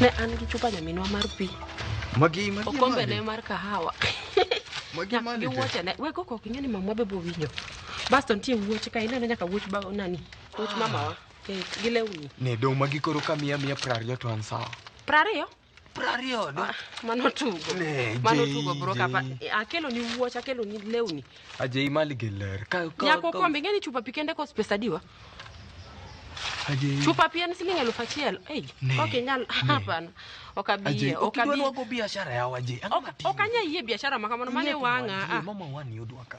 ne an gi chupa nyaminwa mar pi magi magi okombene mar kahawa magi mane gi wuoche ne we koko ok ing'e ni mamwa be bowinjo basto nitie wuoche ka ineno nyaka wuoch ba nani wuoch mamawa eh, gi lewni ne dong' magi koro ka miya miya prariyo to an sawa prariyo Prariyo do. Ah, mano tugo. Ne, Mano Jay, tugo bro kapa. Jay. Akelo ni wuoch, akelo ni lewni. Ajay mali gi ler. Ka ka. Nyako ka- kombe ngeni chupa pi kende kos pesa diwa. Ajay. Chupa pi en siling elfu achiel. Ei, Ne, ok inyal ne. hapana. Ok abi Ajay, yie, ok ok idwa abi. nwago biashara yawa Ajay. Ang'o Ok matiyo? ok anya yie biashara ma kamano mane Ing'e wang'a. kuwa, Ajay, ah. Mama wani odwa ka.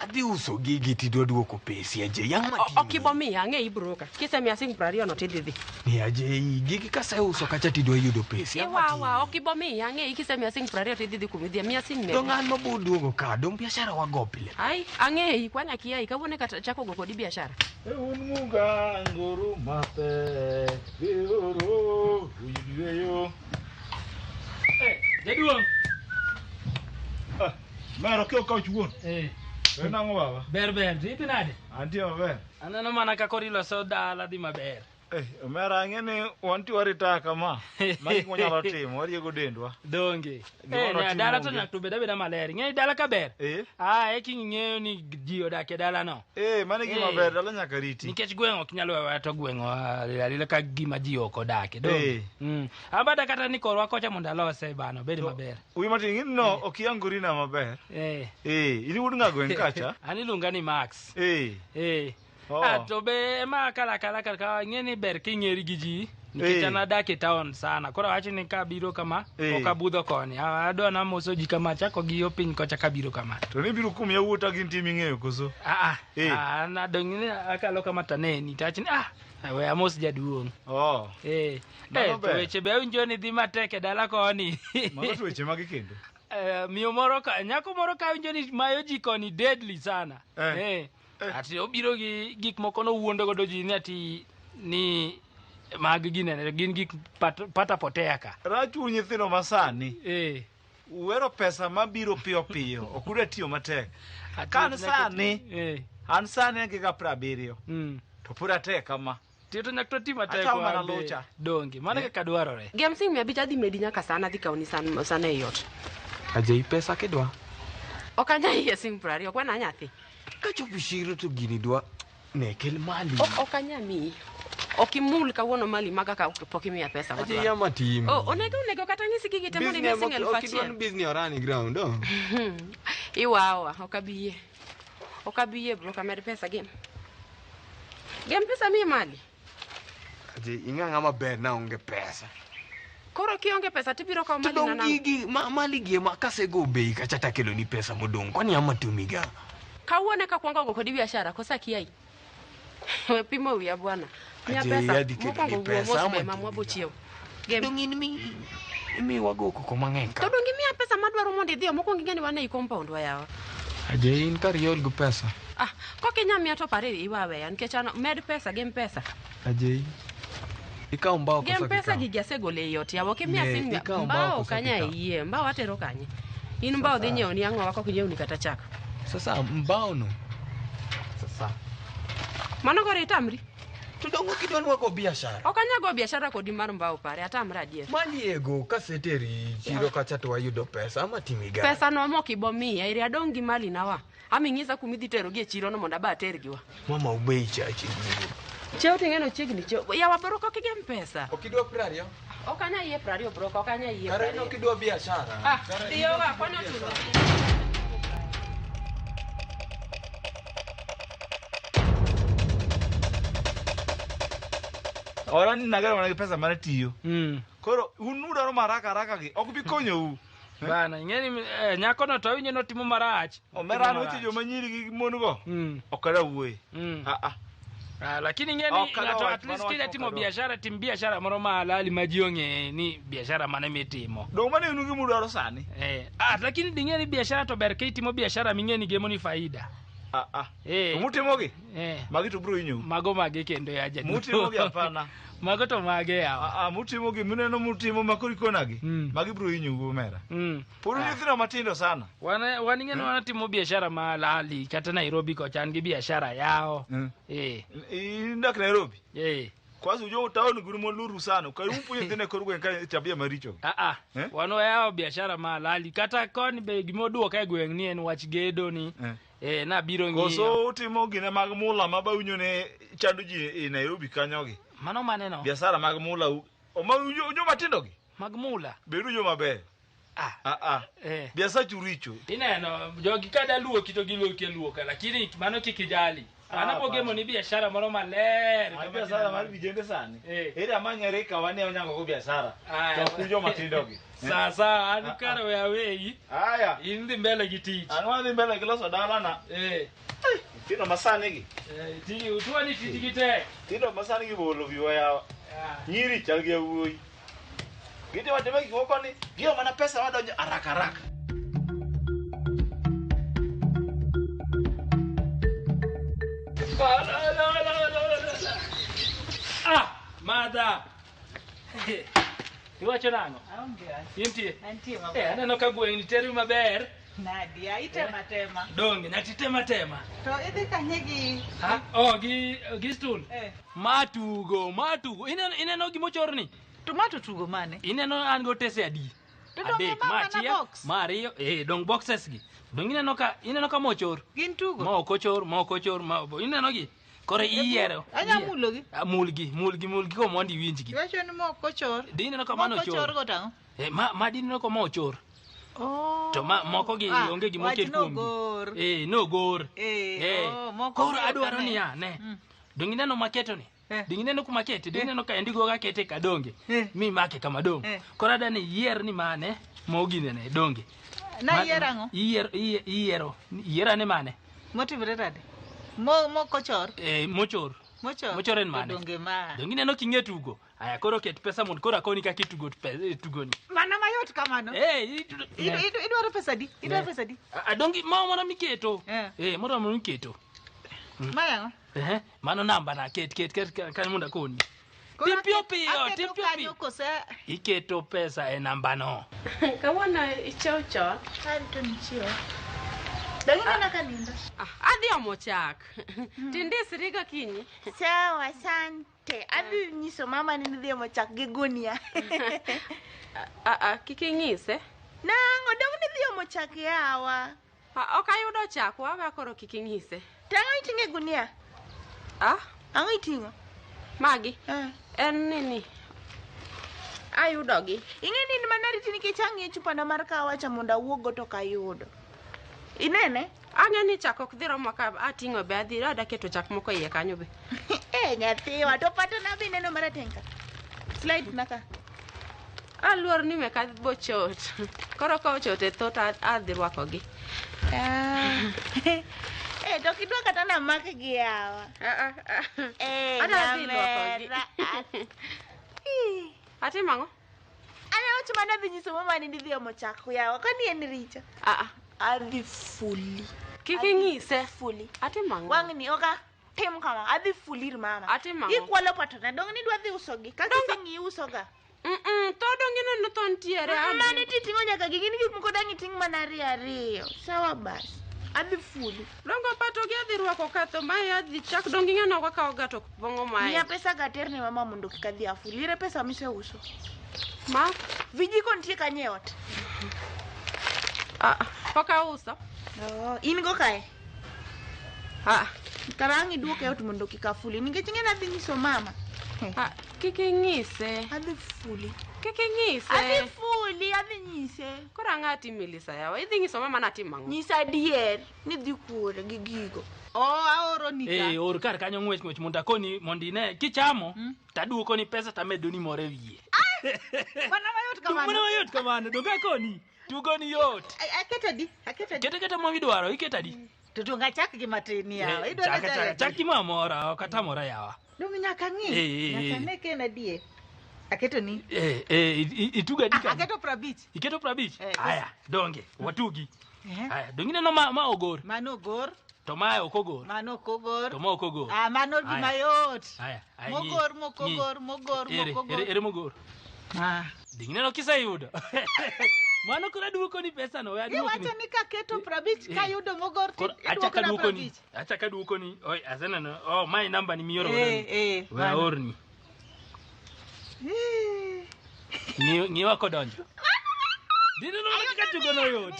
Adhi uso gigi tidwa duoko pesi aje yang' ma Ok ibo miya, ang'e ibroka. Kisemiya siling' piero ariyo no tidhi dhi. Ni aje i gigi kaseuso kacha tidwa yudo pesi. Yang' ma Iwawa, ok ibo miya, ang'e kisemiya siling' piero ariyo tidhi dhi kuma idhiye. Miya siling' mia Dong' abich. an ma bo duogo ka, dong' biashara wago pile. Ai, ang'eyi, kwani akiayi, kawuono e kata chako go kodi biashara. Un muganguru matek, biuru uyweyo. Jaduong'. Mero kyo ka chuon. Eh. En ang'o baba? Ber ber, to ipi nade? Antie maber. Aneno mana ka kori loso dala dhi maber. Eh, omera ang'e ni wanti warita kama. Magi kuma nyalo timo, wariego dendwa. Donge. Gima Eh, notimo na dala to onge. nyak to beda beda maler. Ing'eyo dala ka ber. Eh? Ah, e king ing'eyo ni ji odak e dala no. Eh, mano e gima Eh. ber, dala nyaka riti. Nikech gweng' ok nyal wewa to gweng' alila ka gima ji ok odake. Donge. Eh. Mm. Abada kata ni korwa kocha mondo alose bana obed To- maber. Wi matin in no ok iyangorina maber. Eh. Eh, in wuod ng'ago en kacha. An iluonga ni Max. Eh. Eh. Oh. Ah, to be ma kala kala kala kala ing'e ni ber king'eri gi ji. Nikech Eh. an adak e town sana. Koro awacho ni ka abiro kama, Eh. ok abudho koni. Ah, Adwa na moso ji kama, chako gi yo piny kocha kabiro kama. To ni biro kum yawuota gin tim ing'eyo koso. Ah, ah. Eh. Ah, na dong' ni akalo kama taneni. Tach ni, ah, we amos jaduong'. Oh. Eh. Mano Eh, to ber. weche be awinjo ni dhi matek e dala koni Mago to weche mage kendo? Eh, miyo moro ka nyako moro ka awinjo ni mayo ji koni deadly sana Eh. Eh, Eh. ati obiro gi gik moko nowuondo godo ji ni ati ni mag ginene gin gik pat- pata potea ka Rachu nyithindo masani Eh, uwero pesa mabiro piyo piyo ok udwa tiyo matek. ati Kan nyaka ti- sani. Eh, An sani an gi ga prabiriyo mm. to pod atek kama. Tiyo to nyaka to ti matek Achawo mana wade. lucha. Donge, mano e kaka dwarore. Gem sing mia abich adhi medi nyaka sana adhi kawoni san- sana e ot. Ajei pesa kidwa. Ok anya iye sing piero ariyo, ok wana nyathi. Kachopo chiro to gini dwa ne kel mali. Ok ok anya miyi. Ok imul kawuono mali maga ka pok imiya pesa. Ajei matwal. ama tim. Oh, onego onego kata ng'isi gigi te mondo imiya sing elfu achiel. Kidwa ni bizni orani ground. oh. Iwawa, ok abi yie. Ok abi yie broka med pesa gem. Gem pesa mi mali. Aje ing'a ng'a maber na onge pesa. Koro kionge pesa tibiro kawo mali na Tudong' nango. gigi ma- mali gi ema kasego bei kacha takeloni pesa modong' kwani ama tumiga. Kawuono eka kwongo go kodi biashara kosa kiai. We pimo wiya bwana. Miya Aje, pesa. yadi kendo Mokwongo gi wuo pesa, mos ama mema mwa bochiew. Gem. Dong in mi imi wago koko mang'eny To ka. donge miya pesa madwaro mondo idhiyo mokwongo ing'e ni wan ei compound wa yawa. Aje in kar iol gi pesa. Ah, kok inya miya to pare iwa weya nikech an med pesa gem pesa. Ajei. Ikaw mbao koso Gem pesa gi jasegole ei ot yawa kimia Ne, sim ikaw mbao mbao koso kanya kikaw? iye mbao atero kanye in mbao dhi nyiewo ni ang'o wako kinyiewo ni kata chak Sasa mbao no. Sasa. mano koro itamri To dongo kidwa ni wago biashara. ok anyago biashara kodi mar mbao pare atamra adier Maliego kaseteri chiro kacha to wayudo pesa ama timi gani? pesa no mok ibomiya iri adong' gi mali nawa Ami ng'isa kuma idhi terogi e chirono mondo aba atergi wa. Mama ubei chache. Cheo ting'eno chiegni cheo. Yawa bro kok igem pesa. Ok idwa piero ariyo? Ok anya yie piero ariyo bro, ok anya yie. Kare ok idwa biashara. Ah, iyo wa kwani ochuno. Ora ni nagero mana gi pesa mar tiyo. Mm. Koro un udwaro maraka araka gi ok bi konyou. bana ing'eni eh, nyakono to awinjo notimo marach omera noche joma nyiri gi mon go Mm, ok ada wuoye mm. Ah, ah. Ah, lakini ing'eni Ok, ng'ato alot, at least mano kidwa wach timo mokalo. biashara tim biashara moro ma halali ma ji ong'e ni biashara mane mitimo donge mano inu gima udwaro sani Eh, ah, lakini ding'e ni biashara to ber ka itimo biashara ming'e ni gemoni faida Ah, ah. Eh. To mutimogi Eh. Magi to bro inyo. Mago mage kendo ya jadolo. Mutimo gi apana. Mago to mage ya. A, a mutimo gi muneno mutimo makori kona gi. Mm. Magi bro inyo go mera. Mm. Puru ah. nyithina matindo sana. Wana wani ngene eh. wana timo biashara ma lali kata Nairobi ko chan gi biashara yao. Mm. Eh. Indak Nairobi. Eh. Kwanza ujua utaoni guru moluru sana. Kwa hiyo mpunye tena koru kwa nkai tabia maricho. Ah ah. Eh? Wano yao biashara ma lali kata koni be gimoduo kai gweng ni en wach gedo ni. Eh. eh nabiro ng'iyo koso utimo gine mag mula ma bawinjo ne chando ji e nairobi kanyogi mano maneno biasara mag mula u- o ma unjo unjo matindogi mag mula bedu jo maber ah aa eh biasachu richo ineno jogi ka daluoki to giluoki aluoka lakini mano kik ijali Ah, mano hapana. bogemo ni biashara moro maler Mar kama biasara mar kineno. vijende sani Eh. ere amanyare kawane onyangogo biasara Aya. to kunjo matindogi sasa anukara we awei Haya. indi mbele gi tich An wadhi mbele gi loso dalana. eh Tino masani gi. eh, tiji utuwa ni tiji gitek Tino masani gi bolo viwa yawa. Ah, Nyiri chal gi yawuoyi. Giti watime gik moko ni giyo mana pesa wadonjo haraka haraka. ah, la, la, la, la, la, la. ah madha Iwacho nang'o? Aonge wach. Intie? Antie Eh, maber. aneno ka gweng'ni teri maber. Nadia, itema tema. Donge nyati tema tema. To idhi kanye gi Ha, oh, gi gi stool. eh Matugo, matugo. Ineno ineno gima ochorni? tomato tugo mane? Ineno an go tese adi? To donge Adek, ma ma mana achiel, box? ma ariyo, eh, dong boxes gi. Dong ineno ka ineno ka mochor. Gin tugo. Ma ok ochor, ma ok ochor, ma ineno gi. Koro iyiero. Anya iyier- mulogi. Ah, Mulgi, mulgi, mulgi ko mondo iwinjgi. Iwacho ni mok kochor. Di ineno ka mano Mok kochor ochor. go tang'o. Eh, ma ma di ineno ka ma ochor. Oh. To ma moko gi Ah, onge gima wach oket kuomgi. nogor. Eh, nogor. Eh, Eh, oh, moko koro gi ok adwaro ane. niya, ne. Mm. Donge ineno maketo ni? Eh. Donge ineno kuma kete? Donge ineno ka endigo ga kete ka donge? Eh. Mi make kama donge. Eh. Koro adwaro ni iyier ni mane mogi nene donge. Na Ma- iyiero ang'o? Iyiero iyiero iyiero ane mane. Motimre nade? Mo mokochor, Eh, mochor. mochor. Mochor en mane? Donge ma. Donge ineno king'e tugo. Aya koro ket pesa mondo koro akoni kaka itugo pe- tugoni. Mana mayot kamano. Eh, itu- Idu- ne. idu- Idwaro pesa di? Idwaro Ne. pesa di? A- a donge moro moro miketo. Eh. Eh, moro moro miketo. Ma yango? Eh. Mano namba na ket ket ket ka- kanyo mondo akoni. Koro Tim piyo aketo- piyo, aketo tim piyo kanyo piyo. kose Iketo pesa e namba no. kawuono ichiew chon Arito nichiew. Dagi nena ka nindo. Ah, adhi omo chak tindisriga kinyi Sawa, asante. Adhi nyiso mama ni nidhi omo chak gi gunia. Ah, ah, kik ing'ise Nang'o dong nidhi omo chak yawa. Ah, ok ayudo chak, waga koro kik ing'ise. To ang'o iting'o e gunia? Ah? Ang'o iting'o? Magi? Eh. En nini? Ayudogi. Ing'e ni in mana riti nikech ang'e chupana mar kahawa cha mondo awuoggo to ok ayudo. Inene? Ang'e ni chak ok dhi romo ka ating'o be adhi ada keto chak moko iye kanyo be. Eh, nyathiwa, to patana be ineno marateng' ka. Slide na ka. Aluor ni meka bochot. Koro ka ochot e thot a- adhi rwakogi. Eh, to kidwa kata na mak gi yawa. Ah, ah, ah. Eh, Ada dhi lwokogi. nyamera. Ih, Atimo ang'o? Ana wach mana dhi nyiso mama ni didhi omo chak yawa. Kani en richo. Ah, ah. Adhi fuli. Kik inyise. Fuli. Atimo ang'o? Wang'ni oka tim kama. Adhi fulir mama. Atimo ang'o? Ikwalo patona. Dong ni dwa dhi usogi. Kaka iseng'i usoga. Mm-mm, tho donge neno tho nitiere Abi. Mani titing'o nyaka gi gin gik moko dang' iting' mana ariyo ariyo. Sawa bas. Adhi fulu. dongo pato gi adhi rwako katho mae adhi chak donge ing'ano kaka ogato pong'o mae Miya pesa gaterni mama mondo kik adhi afuli. Ere pesa miseuso? ma Vijiko nitie kanye e ot? ah, pok auso Oh, in go kae? Ah, karang' iduok e ot mondo kik afuli nikech ing'e nadhi nyiso mama. ah, kik inyise. Adhi fuli. Kik inyise. Adhi fuli, adhi nyise. Koro ang'o ati Melissa yawa? Idhi nyiso mama ni atimo ang'o? Nyisa adier ni dhi kuore gi gigo. Oh, aoro ni Eh, ka. or kar kanyo ng'wech ng'wech mondo akoni mondo ine kichamo taduokoni pesa tamedoni moro e wiye. Mana mayot Dong' mana kamano. mayot kamano donge akoni tugo ni yot A- aketo adi aketo adi kete kete ma idwaro iketo adi to donge achak gi matin yawa Eh, chaka, chaka, chak gi mamora ok atamora yawa donge nyaka ng'i Eh, eh, nyaka eh. ne ka en adie aketo ni Eh, eh, i- i- itugo adi Ah, kanyo? aketo prabich iketo prabich Eh, aya donge watugi Ehe. aya donge ineno ma, ma ogor mano ogor to mae ok ogor mano ok ogor to ma ok ogor Ah, mano Aya. gima yot aya Ayi. Mogor, mokogor, Nyi. mogor, Ere, mokogor. ere, ere mogor. Ah. Dingineno kiseyudo. Mano koro aduoko ni pesa no, we aduokni. Iwacho ni kaketo prabich Eh. kayudo mogor Koro ti- acha iduoko na kaduoko ni. prabich. Acha kaduoko ni. Oi, aseneno. Oh, my number ni mioro. Eh, eh, We mano. aorni. Eh. Ng'iwa kodonjo. Dineno kaka tugono yot.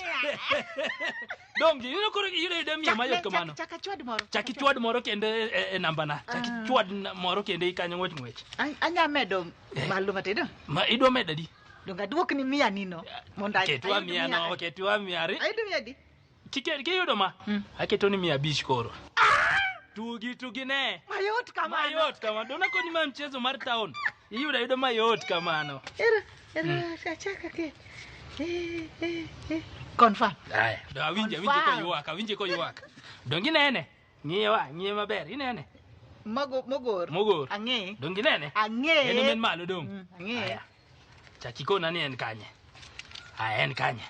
dongi ineno koro iyudo yudo miyo mayot kamano chak achwad moro chak ichwad moro kendo e, e, e nambana chak Ah. ichwad na- moro kendo ikanyo ng'wech ng'wech An- anya medo malo matin ah? ma idwa medo adi donge aduok ni miya nino mondo ay- ketwa ayud miya no ketwa miya ari ayud miya di Kike- kiyudo ma Mm. aketo ni miya abich koro tugi tugi ne mayot kamano mayot kama dona koni ma mchezo mar town Iyudo ayuda mayot kamano. Era, era, achaka ke. Eh, eh, eh. Confirm. Haya, do awinje awinje Confirm. koywak, awinje koywak. Dongi nene. Ng'iye wa, ng'iye maber, inene. Mago, mogor. Mogor. Ang'e. Dongi nene. Ang'e. En omen malo dong. Mm, ang'e. Haya. Chakikona ni en kanye. Haya, en kanye.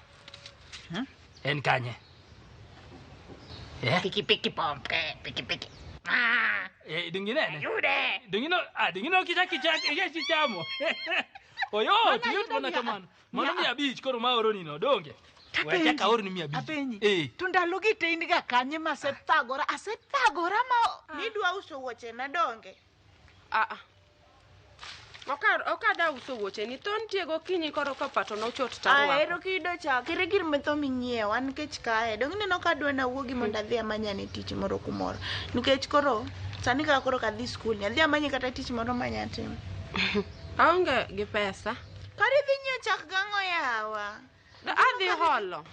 Huh? En kanye. Eh? Piki piki pompe, piki piki. Ah, Eh, dinginene. yude. Dingino, ah, dingino kicha kicha kicha chichamo. Oyo, Mano tuyot ayudo mana mia- kamano. Mano mia- mia abich koro ma oro nino, donge? Tapenji. Wacha kaoro ni mia abich. Apenji. Eh. To ndalogi to in ga kanye ma asethagora, asethagora ma Nidwa uso wuoche na donge? Aa. Okar okada uso wuoche ni ton tiego kinyi koro ka pato no chot ta. Ahero kido cha, kere gir me tho minyiew, an kech kae. Dong ineno ka adwa na wuogi mondo adhi amanya ne tich moro kumoro. Nikech koro sani kaka koro kadhi skul, ni adhi amanye kata tich moro manya timo. Aonge gi pesa. Kari dhi nyiew chak gang'o yawa? adhi holo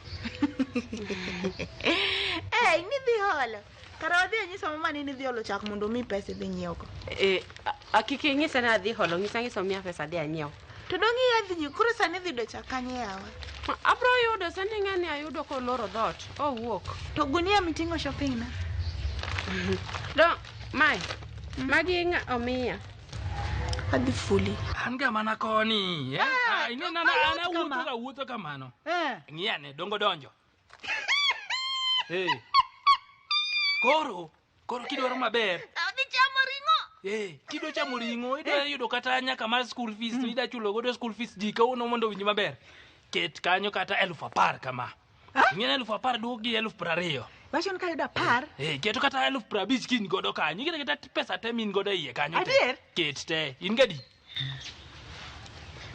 eh nidhi holo kara wadhi anyisa mama ni nidhi holo chak mondo omi pesa idhi nyiewgo eh akik inyisa ni adhi holo ng'isa ng'isa omiya pesa adhi anyiew to dong' iya dhi nyieo koro sani idhi yudo chak kanye yawa abro yudo sani ng'ani ayudo koloro dhot owuok to gunia miting'o shopping na do mae magi ng'a omiya adhi fuli an ga mana koni eh? Ah, ine nana an awuotho ga wuotho kamano Eh. ng'iyane dongo donjo Eh. koro koro kidwaro maber Odhi chamo ring'o. Eh, kidwa chamo ring'o idwa yudo kata nyaka mar school fees to ida chulo godo school fees ji kawuono mondo owinj maber ket kanyo kata elfu apar kama ing'eyo eluf apar duok gi eluf prariyo Wacho ni kayudo apar. Eh, keto kata eluf prabich ki in godo kanyo ing'eyo kata pesa te min godo e iye kanyo te. Adier? ket te in gadi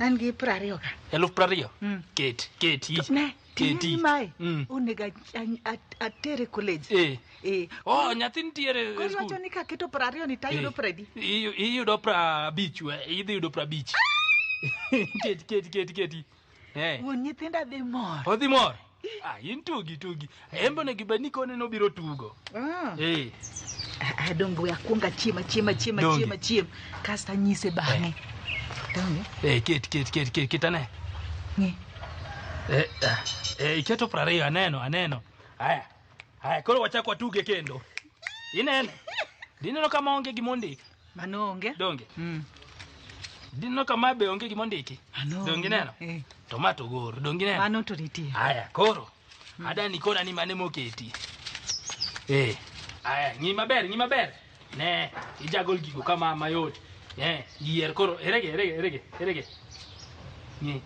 An gi prariyo ka. eluf prariyo Mm. ket ket i- Ne, ket ting'e i. mae. Mm. Onego a- a- a- atere college. Eh. Eh. oh nyathi nitiere Koro e skul. iwacho ni kaketo prariyo ni tayudo Eh, pradi. iyu- iyudo prabich we idhi yudo prabich ket ket ket ket i. Eh. Wuon nyithinda dhi mor. Odhi mor. Ah, in tugi tugi. Embe onego ibed ni kone nobiro tugo. Ah. Eh. Ah, ah, Donge we akwonga chiema chiema chiema Donge. chiema chiema kasto anyise bang'e. Donge? Eh, ket ket ket ket ket ane. Ng'i. Eh, ah, eh, iketo prariyo aneno aneno. Haya. Haya, koro wachak watuge kendo. Inene. Dineno kama onge gima ondik. Mano onge. Donge? Mm. Dinno kama be onge gima ondiki. Mano. Donge neno? Eh. To ma to goro. Donge neno? Mano to nitie. Aya, koro. Mm. Ada ni kona ni mane moketi. Eh. Aya, ng'i maber, ng'i maber. Ne, ijagol gigo kama mayot. Eh, yier koro. Erege, erege, erege, erege. Ng'i.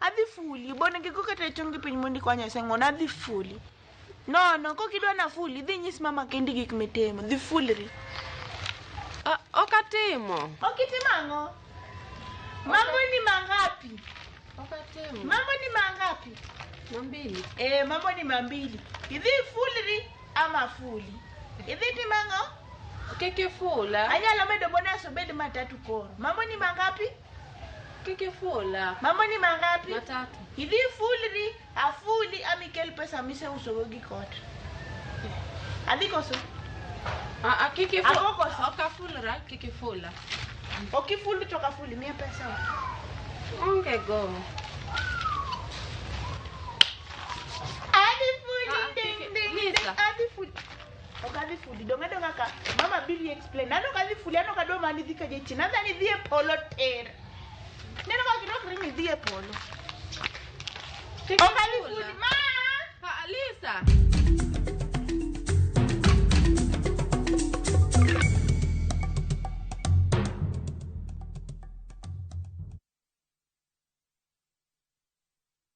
Adhi fuli, bonegi go kata e chongi piny mondi kwanya seng'ona, adhi fuli. No, no, kok idwa na fuli, dhi nyis mama kendi gik mitimo, dhi fulri. Ah, Ok atimo. Ok itimo ang'o? Mambo ni mangapi? Ok atimo. Mambo ni mangapi? Mambili. Eh, mambo ni mambili. Idhi fulri ama fuli. Idhi timo ang'o? Kik ifula. Anyalo medo bonus obed matatu koro. Mambo ni mangapi? Kiki full up. Mambo ni mangapi? Matatu. Idhi fulri, afuli ama ikel pesa miseusogo gi kot. Adhi koso? Ah, ah, kiki full. Ako koso? Oka full ra, kiki full up. Ok ifuli to kafuli miya pesa. Onge go. Adhi fuli Ah, ding kiki- ding ding. Lisa. Adhi fuli. Ok adhi fudi, dong' adong' aka. Mama Billy explained. An ok adhi fudi, an ok adwa mana idhi ka jachien. Adhi an idhi e polo tir. Neno kaka gidokre ni idhi e polo. Tek Ok adhi kula. fudi, ma! Ha, Lisa.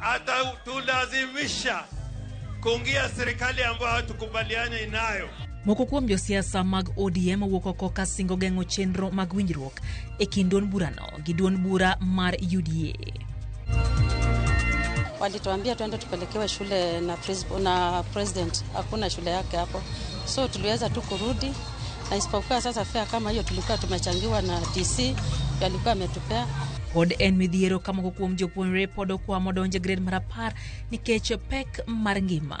Atatulazimisha kuingia serikali ambayo hatukubaliani inayo. Moko kuom josiasa mag ODM owuok oko ka singo geng'o chenro mag winjruok e kind duond burano gi duond bura mar UDA. Walituambia tuende tupelekewe shule na, na president, hakuna shule yake hapo, so tuliweza tu kurudi na isipokuwa sasa fea kama hiyo tulikuwa tumechangiwa na DC alikuwa ametupea pod en midhiero ka moko kuom jopuonjre pod okwamo donjo e gred mar apar nikech pek mar ngima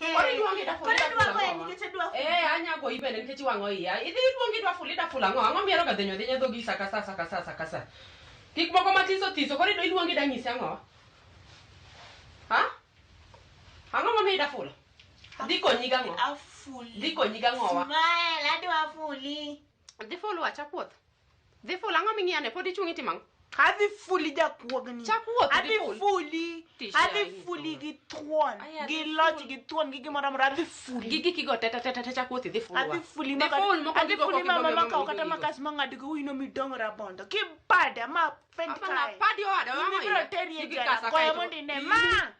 Koro iluongi da fuli da fula ang'o? Eh, anya goyi bende nikech iwang'o iya. Idhi iluongi da fuli da fula ang'o? Ang'o mihero ga dhenyo adhenya dhogi sa ka sa sa ka sa sa ka sa. Gik moko mathiso thiso koro idwa iluongi da nyisi ang'o? Ha? Ang'o momiyo ida fula? Dhi konyi gang'o? Dhi konyi gang'owa? Smile, adwa fuli. Dhi fulu acha puoth. Dhi ful ang'o ming'iya ne pod ichung' itimo ang'o? Adhi fuli jakuogni. Chak wuoth, dhi Adhi ful. fuli. Tich Adhi yayi, fuli gi thuon, Aya, gi dhi loch, ful. gi thuon, gi gimoro amora. Adhi fuli. Gi giki go teta teta teta chak wuoth idhi ful. Adhi fuli Dhi maka- ful moko adhi gigo fuli kok mama ibomi makawo omo kata gigo. makas mang'ad go ino midong' rabondo. Kibada ma fend Apa na kae. padi owada Ibiro wang'o teri e Igi jela. kasa Goya kaeto- mondo ine. Ma!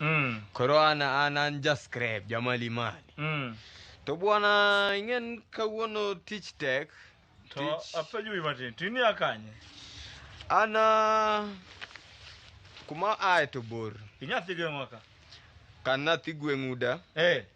mm. koro an an an jascribe jamali mali mm. to bwana ing'en kawuono tich tek to tich- apenjo wi matin to inia kanye an ah, kuma aye to bor inyathi geng'wa ka kan nathi gweng'uda eh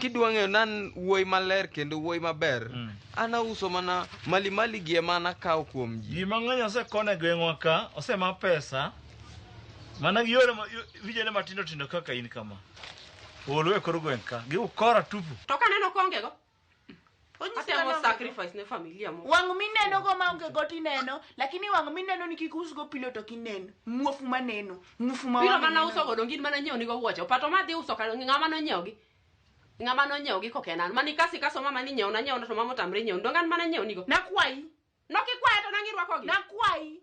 kidwa ng'eyo nan wuoyi maler kendo wuoyi maber mm. an auso mana malimali gi ema nakawo kuom ji ji mang'eny osekone gweng'wa ka osema pesa mana gi yore vijene matindo tindo kaka in kama olo e kor gweng' ka giukora tupu to kaneno kongego Onyisi Atemo ang'o? sacrifice ne familia mo. wang' mineno go ma onge go tineno lakini wang' mineno ni kik usgo pilo to kineno muofu maneno muofu ma Pilo wang' mana ineno. uso go dongin mana nyiewo nigo wuoche. Opato ma dhi uso kar ng'ama nonyiewogi. Ng'ama nonyiewogi kok en an. Mani kasi kaso mama ni nyiewo na nyiewo na to mama otamre nyiewo. Dongan mana nyiewo nigo. nakwayi Nokikwaya to nang'irwakogi. nakwayi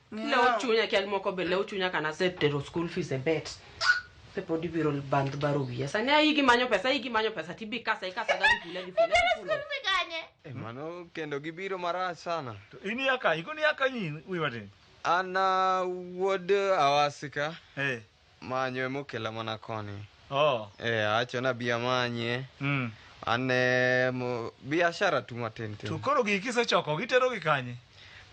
Lew chunya kial moko be lew chunya kana setero school fees e bet. Pe pod ibiro bandh baro wiya. Sani ayi gi manyo pesa, ayi gi manyo pesa tibi kasa ikasa ga gifula gifula. gifula. Eh, mano kendo gibiro marach sana. In yaka, ikoni yaka nyin, wiwa tin. An uh, wuod Awasika. Eh. Manyo ema okela mana koni. Oh. Eh, awacho na bi amanye. Mm. Ane mo- biashara tu matin tin. To koro gigi kisechoko gitero gi kanye?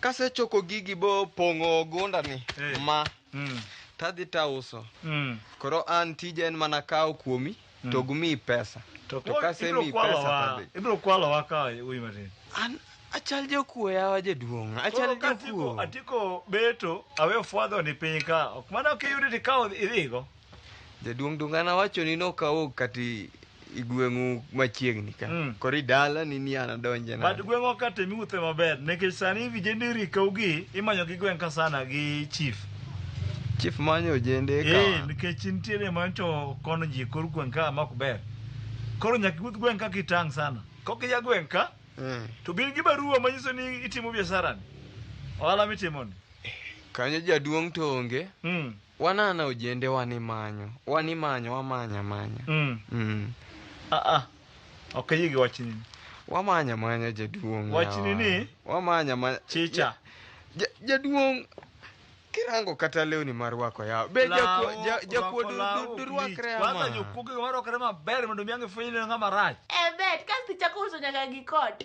Kasechoko gigi bo pong'o gunda ni Eh. ma Mm. tadhi tauso. Mm. Koro an tija en mana kawo kuomi mm. to gimiyi pesa to kasemiyi pesa tadhi ibiro kwalowa ka uyi matin an achal jokuo yawa jaduong' achal jokuo atiko beto awe ofwadho ni piny ka ok mana ok iyudi tikawo idhigo jaduong' dungana wacho ni nokawo kati igweng'u machiegni ka mm. koro idala ni ni ana donje na but gweng'wa ka temi uthe maber nikech sani vijende rikaugi imanyo gi gweng' ka sana gi chief Chief manyo ojende ka. Eh, nikech nitiere mancho kono ji kor gweng' ka ma ok ber. Koro nyaka iwuoth gweng' ka kitang' sana. Kok iya gweng' ka Eh, to bin gi barua manyiso ni itimo biashara ni. Ohala mitimo ni. Kanyo jaduong' to onge. Mm. Wanana ojende wani manyo. Wani manyo wamanya manya. Mm. Mm. Ah ah. Ok ayie gi wachni. Wamanya manya jaduong'. Wachni ni? Wamanya manya. Chicha. Ja, jaduong' kirango kata lewni mar wako yawa be jakuo durwakre kwanza jokuoge warwakre maber mondo mi ang'e fwenyo ng'ama rach e bet kasto ichako uso nyaka gi kot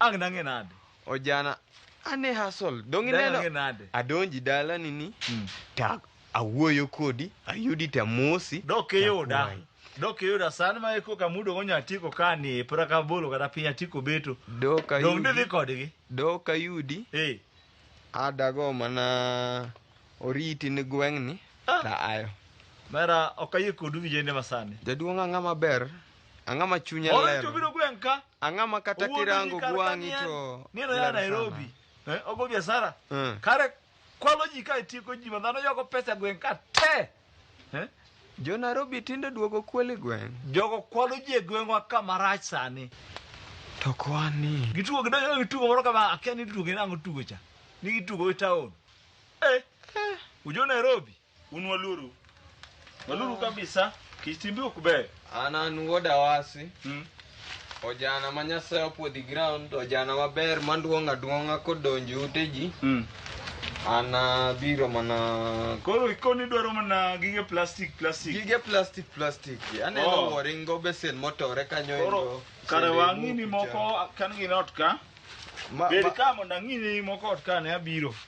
Ang' nang'e nade? Ojana, ane hasol. Dong' Dang' ineno? ang'e nade? Adonji dalani ni, Mm. ta awuoyo kodi, ayudi tamosi. Dok iyuda. takwayi. Dok iyuda san ma eko kamudo go nyatiko ka ni e pra ka bolo kata piny atiko beto. Dok Dong' didhi ayudi, kodgi. dok ayudi, Eh. adago mana oriti ni gweng'ni, Ah. ta ayo. Mera ok ayie kodu vijende masani. Jaduong' ang'a maber, ang'a ma chunya Oro lero. to biro gweng' ka. ang'a ma kata Owuondo kirango ji kar gwang'i ka to ni en- ni en oya ler Nairobi sana. eh, ogo biashara Mm. kare kwalo ji ka itieko ji ma dhano yoko pesa gweng' ka te eh, jo nairobi tinde duogo kweli gweng' jogo kwalo ji e gweng'wa ka marach sani to kwani gitugo gidonjo gi tugo moro kama akia ni tugo nang'o tugo cha ni gitugo e taon eh, ujo Nairobi Un waluru. Waluru kabisa. Kitimbe ok ber. An an wuod Awasi. Mm. Ojana ma Nyasaye opuodhi ground, ojana maber manduong' aduong'a kodonji ute ji. Mm. An abiro mana Koro ikoni dwaro mana gige plastic plastic. gige plastic plastic. Aneno Oh. wuoring go besen motore kanyo Koro endo. kare Sende wang'ini ibuku cha. moko kan gin ot ka. Ma- Bed ma- ka mondo ang'ini moko ot ka ne abiro.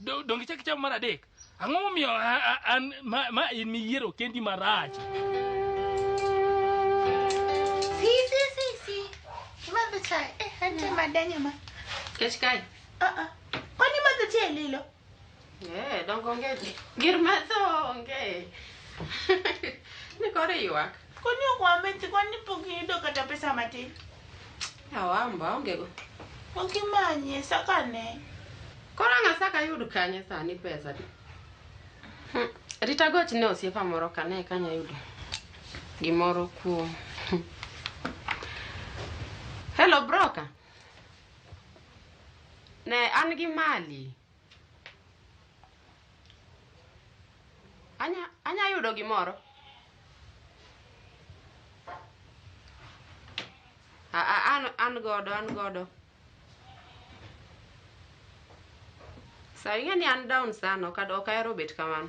Do- donge ichak ichamo mar adek ang'o momiyo a- a- an ma ma in miyiero kendi marach Si, si, si, si. Imadho chai. Eh, ante madanya ma. Kech kae. Ah, ah. Kwani imadho chai e lilo? Eh, dongo onge. Gir madho onge. Ni koro iywak. Koni ok wamethi, koni pok iyudo kata pesa matin. Awamba onge go. Ok imanye, sakane. Koro ang' asaka yud kanye sani pesa di? Hmm, Rita goch ne osiepa moro kane kanya yudo gimoro kuom. Hmm. Hello broker. Ne an gi mali. Anya, anya yudo gimoro. A, a, an, an godo, an godo. Sa ing'e ni an down sana, ok ad- ok ahero bet kamano.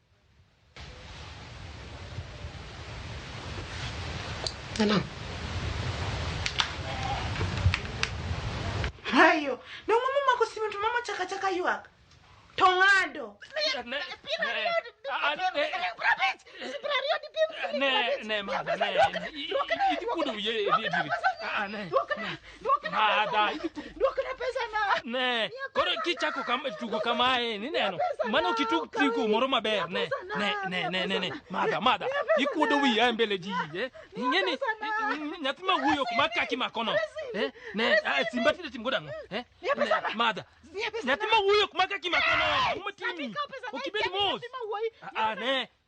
Salam. Hayo. Ne ng'ama omako simu to mama chaka chaka ywak. To ng'ado. Ne, ne, madha, ne. Ikudu ye, ye, ye, ye. Ah, ah, ne. Duokna pesana. Ne, koro kichako kam, tugo kamae, nineno. Mano kitug tugo moro maber, ne. Ne, ne, ne, ne, ne. Madha, madha. Ikuodo wiya e mbele ji, eh. Ing'eni, nyathi ma wuoyo ok mak kaki makono. Eh, ne, ah, simba tinde tim godang'o, eh. Ne, Madha, nyathi ma wuoyo ok mak kaki makono. Ang'o matimi? Ok ibed mos. Ah, ah, ne.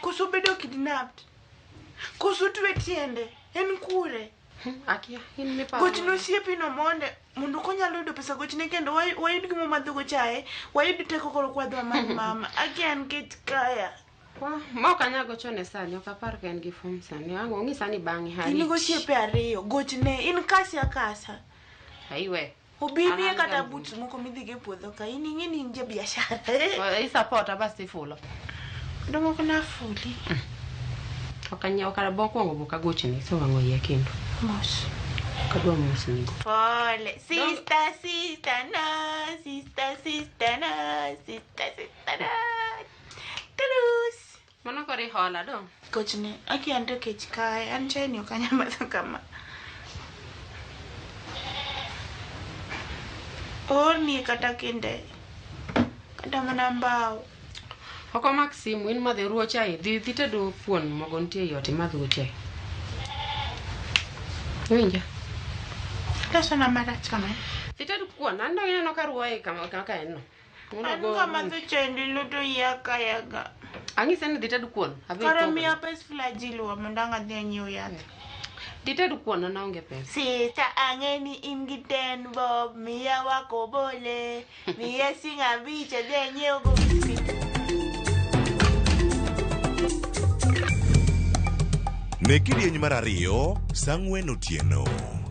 koso bedo kidnapped koso twe tiende en kure Akia, in miparo. gochne osiepino monde mondo konyalo yudo pesa gochne kendo way- wayud gimo madhogo chaye wayud teko koro kwadwa mar mama again get kaya Wah, ma ok anyal gochone sani, ok apar ka en gi form sani. Ang' ong'i sani bang'e in hari. gosiepe ariyo gochne in kasi akasa Aiwe. Obi An miye an kata ga- boots moko midhigo e puodho ka in ing'e ni in ja biashara. Eh, isapota bas tifulo Kendo moko nafuli. ok anyiewo kata bokwongo bok agochni so wang'o iya kendo Mos. ok adwa mosnigo Pole. Sister, sister, na. Sister, sister, na. Sister, sister, na. Tulus. Mano koro ihola dong. Kochni, aki an to kech kae, an chai ni ok anyal madho kama. Oolni kata kinde, kata mana mbao. Ok omak simu, in madhe ruo chai. Dhi dhi tedo kuon mogo nitie ei ot imadh go chai. Iwinja? Losona marach kama. Dhi ted kuon, an dong ineno ka ruo e kama kaka en no. Mondo An go- kama to chandi luto iya kaya ga. Ang'ise ni dhi ted kuon. Adhi Kara itogo. miya pes flagil wa mondo ang' adhi anyiew yath. Dhi ted kuon an aonge pesa. Sita ang'e ni in gi ten bob, miya wako bole, miya sing abich adhi anyiew go biscuit. Ne kidieny mar ariyo, sang'wen otieno.